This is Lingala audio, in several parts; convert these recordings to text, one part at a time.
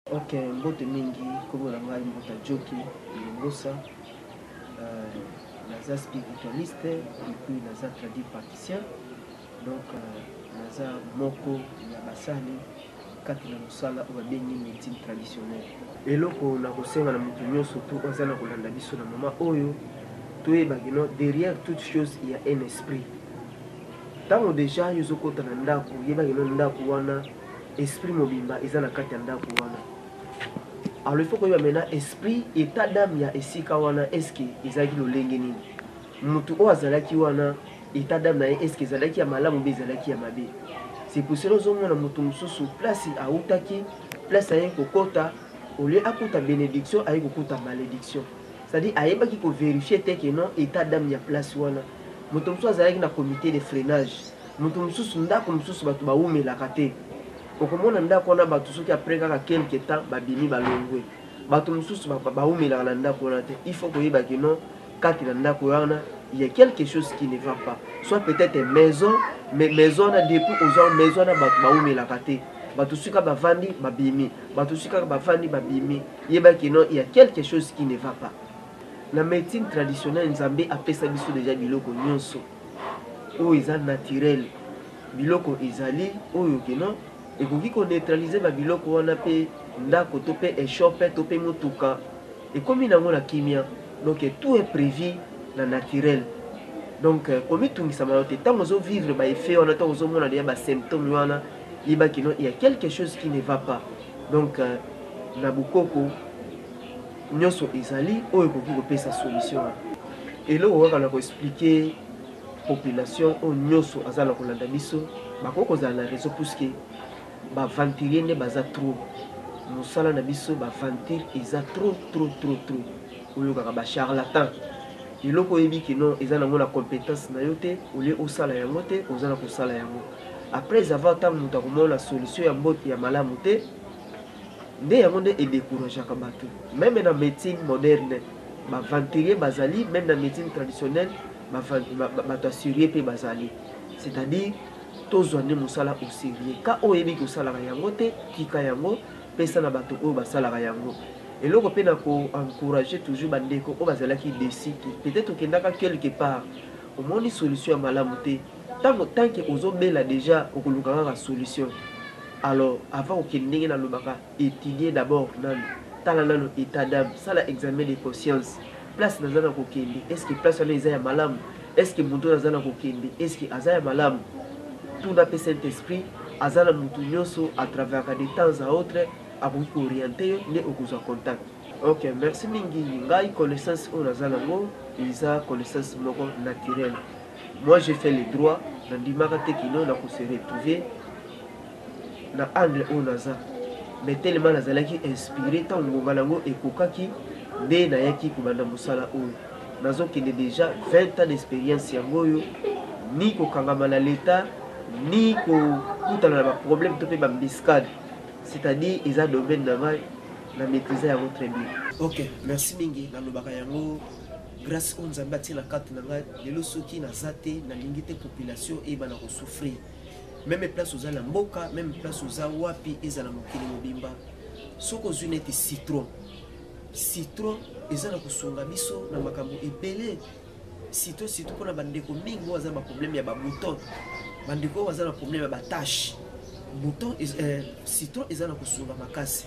Ok, mbote mingi, kombo na ngai Mbuta Joki Longosa. Euh, naza spiritualiste et puis naza traduit praticien. Donc euh, naza moko ya basali kati na mosala oyo babengi médecine traditionnelle. Eloko na kosenga na moto nyonso tu oyo aza na kolanda biso na mama oyo toyeba kino derrière toute chose il y a un esprit. Ntango deja yo ozokota na ndako yeba kino ndako wana Esprit mobimba eza na kati ya ndako wana. Alors il faut koyeba maintenant esprit etat d'âme ya esika wana est-ce que ezalaki lolenge nini? Mutu oyo azalaki wana etat d'âme na ye est-ce que ezalaki ya malamu be ezalaki ya mabe? C'est pour cela ozomona mutu mususu place autaki place aye kokota au lieu akuta benediction aye kokuta malediction. C'est-à-dire ayebaki ko verifier te que non etat d'âme ya place wana. Moto mosusu azalaki na comite de freinage. Moto mosusu, ndako mosusu bato bawumelaka te. Okomona ndako wana bato soki après kaka quelque temps babimi balongwe. Bato mosusu bawumelaka na ndako wana te. Il faut koyeba que non kati na ndako wana il ya quelque chose qui ne va pas. Soit peut-etre maison mais maison wana depuis ozwa maison wana bato bawumelaka te. Bato soki kaka bavandi babimi. Bato soki kaka bavandi babimi. Yeba que non il ya quelque chose qui ne va pas. Na medecine traditionnelle Nzambe apesa biso dejà biloko nionso. oyo eza naturel biloko ezali oyo ke non ekoki ko neutraliser ba biloko wana pe ndako to pe eshope to pe mutuka ekomi nango na kimia donc tout est prevu na naturel donc komitungisa mawa te tango ozo vivre ba effet wana to ozo mona deja ba symptome wana yeba ke non il ya quelque chose qui ne va pas donc na bukoko Nionso ezali oyo ekoki kopesa solution wana. Eloko kaka na ko expliquer population oyo nionso aza na kolanda biso bakoki kozala na raison puisque ba venturier nde baza trop. Musala na biso ba venture eza trop trop trop trop. Oyokaka ba charlatan. Eloko oyebi que non eza nango na competence na yo te au lieu osala yango te oza na kosala yango. Après avoir tango mutu akomona solution ya mbote ya malamu te Nde yango nde e decourageaka batu. Meme na medecine moderne b'aventuriers bazali, meme na medecine traditionnelle batu ya serieux pe bazali. C'est à dire tozua nde musala au serieux. Ka oyo oyebi que osalaka yango te, tika yango, pesa na batu oyo basalaka yango. Eloko pe na ko encourager toujours ba ndeko oyo bazalaki deçu que peut-etre okendaka quelque part omoni solution ya malamu te, Tango tant que ozo bela dejà okoluka kaka solution alors avant okende ndenge na lobaka etudier d'abord nanu tala nanu etat d'ame sala examen de conscience place naza na kokende est ce que place wana eza ya malamu est ce que mutu naza na kokende est ce que aza ya malamu tuna pe saint esprit aza na mutu nioso a travaillaka de temps à autre akoki ko orienter yo nde okozwa contact. Ok merci mingi ngai connaissance oyo naza nango eza connaissance moko naturelle. Moi j'ai fait le droit na ndimaka te kino na ko se retrouver na angle oyo naza mais tellement nazalaki inspire tango ngonga nango ekokaki nde nayaki kobanda mosala oyo nazo kende dejà 20 ans d'experience yango oyo ni kokangama na l'etat ni kokutana na ba problème to pe ba mbiscade c'est-à-dire eza domaine na ngai na maîtriser yango très bien. Ok merci mingi nalobaka yango. Grace oyo Nzambe atie na kati na ngai lelo soki naza te nalingi te population eyebana kosouffrir meme place oza na mboka meme place oza wapi ezala mokili mobimba soki ozwi neti citron citron eza na kosunga biso na makambo ebele citron surtout mpona bandeko mingi oyo aza na baproblème ya babouton bandeko oyo baza na problème ya batache bouton euh, citron eza na kosunga makasi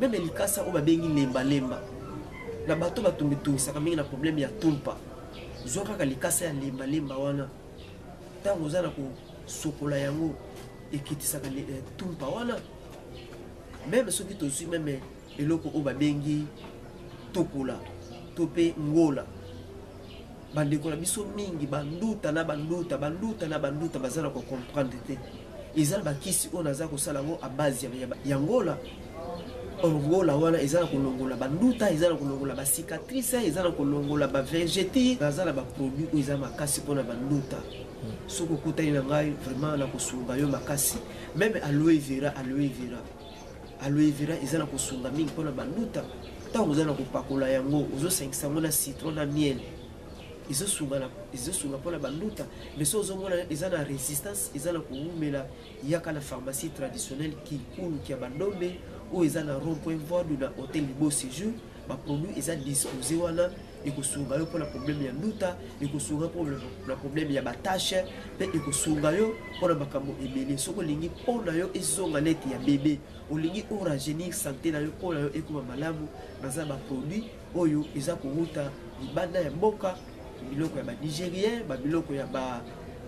Meme likasa oyo babengi lemba lemba na bato batungitungisaka mingi na probleme ya tumpa, zwa kaka likasa ya lemba lemba wana ntango oza na kosokola yango ekitisaka eh, tumpa wana. Meme soki tozwi meme eloko oyo babengi tokola to mpe ngola Bandeko na biso mingi banduta na banduta banduta na banduta baza na kocomprendre te eza na bakisi oyo naza kosala yango a base ya ngola orgola wana eza na kolongola banduta eza na kolongola bacicatrice eza na kolongola bavegeti naza na baproduit oyo eza makasi mpona banduta soki okutani na ngai vraiment na kosunga yo makasi meme aloe vera aloe vera aloe vera eza na kosunga mingi mpona banduta ntango oza na kopakola yango ozosangisa yango na citron na miel ezosunga mpona banduta mais so ozomona eza na résistance eza na kowumela yaka na pharmacie traditionnelle kikulu kia bandombe oyo eza na rond point voidu na hotel libo séjour baproduit eza dispose wana ekosunga yo mpona problème ya nduta ekosunga mpo na problème ya batashe mpe ekosunga yo mpona makambo ebele soki olingi mpo na yo ezonga neti ya bebe olingi oragenir sante na yo mpo na yo ekoma malamu naza baproduit oyo eza kowuta libanda ya mboka biloko ya banigérien babiloko ya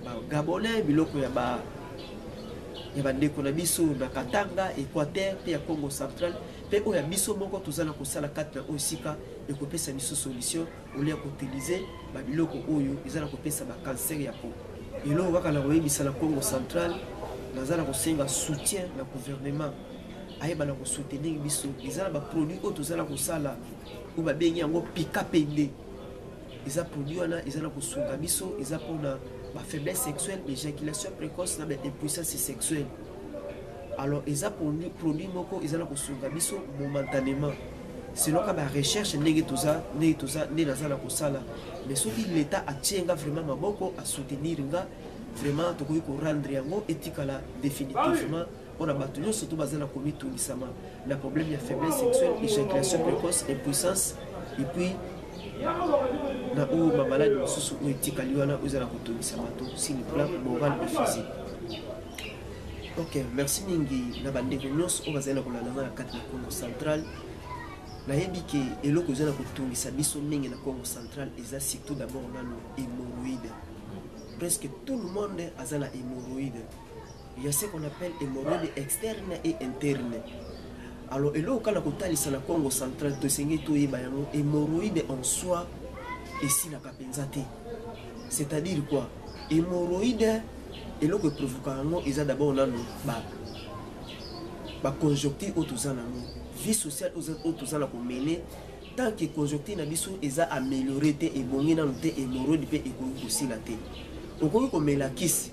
bagabonais biloko ya ba ya bandeko na biso na katanga équateur mpe ya congo central mpe oyo ya biso moko toza na kosala kati na oyo esika ekopesa biso solution olia koutilize babiloko oyo eza na kopesa bakancer ya po eloko kaka na koyebisa na congo central naza na kosenga soutien na gouvernement ayeba na kosoutenir biso eza na baproduit oyo toza na kosala oyo babengi yango pika pende eza produit wana eza na kosunga biso eza mpona bafaiblesse sexuelle baéjaculation précoce na baimpuissance sexuelle alors eza produit moko eza na kosunga biso momentanément selon ka barecherche ndenge toza ndenge toza nde naza na kosala mais soki l'état atie nga vraiment maboko asoutenir nga vraiment tokoki korendre yango etikala définitivement mpo na bato nyonso to baza na komitungisama na problème ya faiblesse sexuelle éjaculation précoce impuissance epuis na oyo bamaladi mosusu oyo etikali wana oyo eza na kotungisa bato sur le plan moral et physique ok merci mingi na bandeko nyonso oyo bazali na kolanda nga na kati na congo central nayebi ke eloko eza na kotungisa biso mingi na congo central eza surtout d'abord nano hémoroïde presque tout le monde aza na hémoroïde Il y a ce qu'on appelle hémorroïde externe et interne. Alors, eloko kaka kotalisa na Congo central tosengeli toyeba yango hémorroïde en soi esilaka mpenza te. C'est-à-dire quoi? Hémorroïde eloko eprovoka yango eza d'abord nanu ba baconjoncture oyo toza nango vie sociale oyo toza na komene tant que conjoncture na biso eza améliore te ebongi nanu te hémorroïde mpe ekoki kosila te okoki komela kisi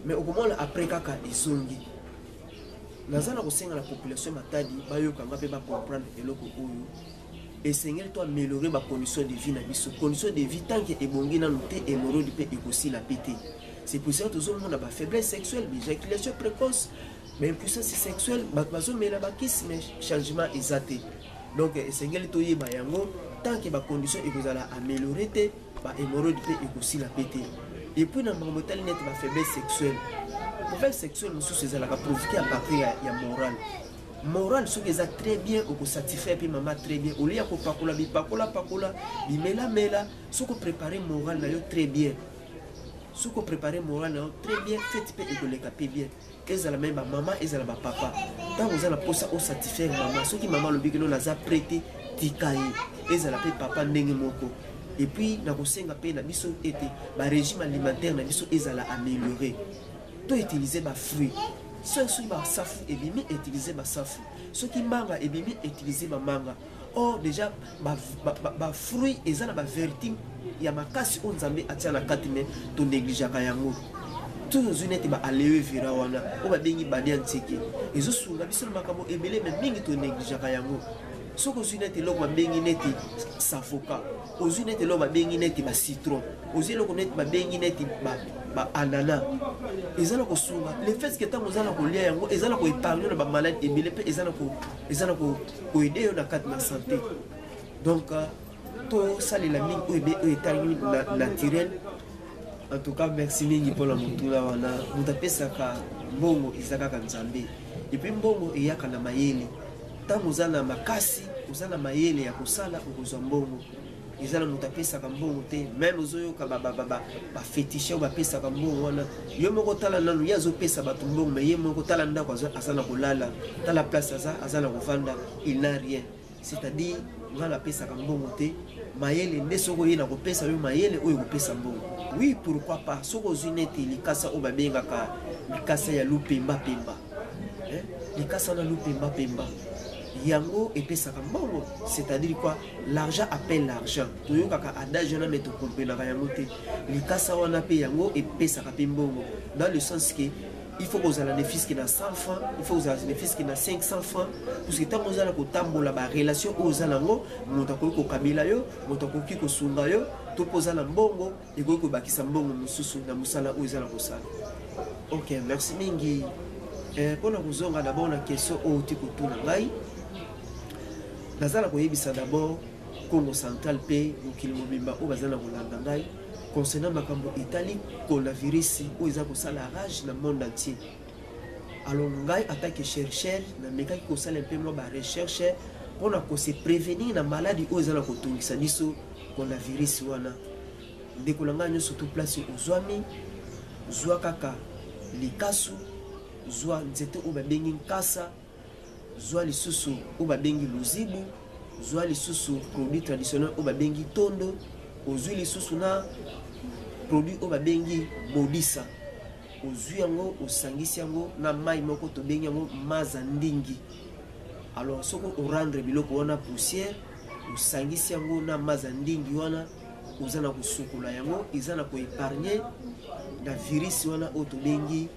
mais okomona après kaka ezongi naza na kosenga na population matadi bayoka nga mpe bacomprendre eloko oyo esengeli to améliorer bacondition de vie na biso condition de vie tanke ebongi nanu te hémorode mpe ekosila mpe te c'est pour ça tozomona bafaiblesse sexuelle bijaculation précoce baimpuissance sexuelle bato bazomela bakisi mais changement eza te donc esengeli toyeba yango tanke bacondition ekozala améliorer te ba hémorroïde mpe ekosila mpe te epuis na makambo etali neti ba faiblesse sexuelle faiblesse sexuelle mosusu ezalaka provoke ya partir ya, ya moral moral soki eza très bien okosatisfaire mpe mama très bien olie ya kopakola bipakola pakola bimelamela soki oprépare moral na yo très bien soki oprépare moral na yo très bien fete mpe ekoleka mpe bien ezala meme ba mama ezala ba papa ntango oza na mposa osatisfaire mama soki mama alobi kino naza pre te tika ye ezala mpe papa ndenge moko epuis nakosenga mpe na biso ete barégime alimentaire na biso ezala améliore to utilize bafruit soki basafu ebimi utilize basafu soki manga ebimi utilize bamanga or déjà ba, ba, ba, ba fruit eza na ba vertu ya makasi oyo nzambe atia na kati me tonegligeaka yango toujours ozwi neti ba alewe vera wana oyo babengi badi ya nseke ezosunga biso na makambo ebele me mingi tonegligeaka yango soki ozwi neti eloko babengi neti savoka ozwi neti eloko babengi neti bacitron ozwi eloko neti babengi neti baanana eza na kosunga le fait ke ntango oza na kolia yango eza na koepargne na bamaladi ebele mpe eza na eza na koede yo na kati na sante donc euh, tosalela mingi oyo etali naturel en tout cas merci mingi mpona motuna wana moto apesaka mbongo eza kaka nzambe epuis mbongo eyaka na mayele ntango oza na makasi oza na mayele ya kosala okozwa mbongo eza na moto apesaka mbongo te meme ozoyoka bafetishe oyo bapesaka mbongo wana yo moko tala nanu ye azopesa bato mbongo me ye moko tala ndako aza na kolala tala place aza aza na kovanda il na rien c'est-à-dire ngai napesaka mbongo te mayele nde soki oye na kopesa yo mayele oyo ekopesa mbongo oui pourquoi pas soki ozwi neti likasa oyo babengaka likasa ya lupembapemba likasa na lupembapemba yango epesaka mbongo c'est-à-dire quoi L'argent appelle l'argent. Toyokaka adage wana mais tokomprenaka yango te. Likasa wana pe yango epesaka pe mbongo dans le sens que il faut kozala ne fiske na 100 francs il faut kozala ne fiske na 500 francs puisque ntango ozala kotambola barelation oyo oza nango moto akoki kokabela yo moto akoki kosunga yo to mpo oza na mbongo ekoki kobakisa mbongo mosusu na mosala oyo eza na kosala ok merci mingi eh, mpo na kozonga dabord na question oyo ti kotuna ngai naza na koyebisa dabord congo central mpe mokili mobimba oyo baza na kolanda ngai concernant makambo etali coronavirus oyo eza kosala rage na monde entier Alors ngai en tant que chercheur na mekaki ko sala mpe mwa ba recherche mpo na ko se prévenir na maladie oyo ezala ko tungisa biso pona virus wana. Ndeko na ngai nyonso tout place ozwami zwa kaka likasu zwa nzete oyo babengi nkasa zwa lisusu oyo babengi luzibu, zwa lisusu produit traditionnel oyo babengi tondo, ozwi lisusu na produit oyo babengi bodisa, ozwi yango osangisi yango na mai moko tobengi yango maza ndingi. Alors soki orendre biloko wana poussière, osangisi yango na maza ndingi wana oza na kosukola yango, eza na koepargne na virisi wana oyo tobengi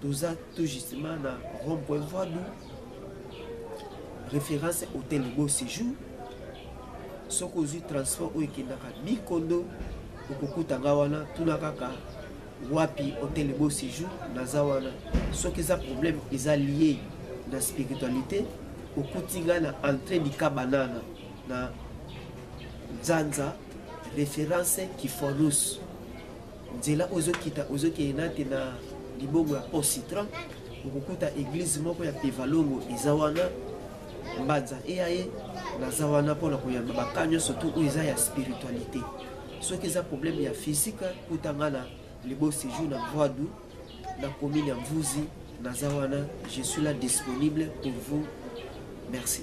toza tout justement na rond point voie du référence hôtel beau séjour soki ozwi transport oyo ekendaka bikondo okokuta nga wana tuna kaka wapi hôtel beau séjour naza wana soki eza problème eza lié na spiritualité okuti nga na entrée dika banana na nzanza référence kifonus nzela ozokita ozokeye nate na libongo ya pont citron okokuta eglize moko ya pevalongo eza wana mbanza eya ye naza wana mpo na koyamba baka nyonso tu oyo eza ya spiritualité soki eza problème ya physique kuta nga na libo séjour na voidu na commune ya mvuzi naza wana je suis là disponible pour vous merci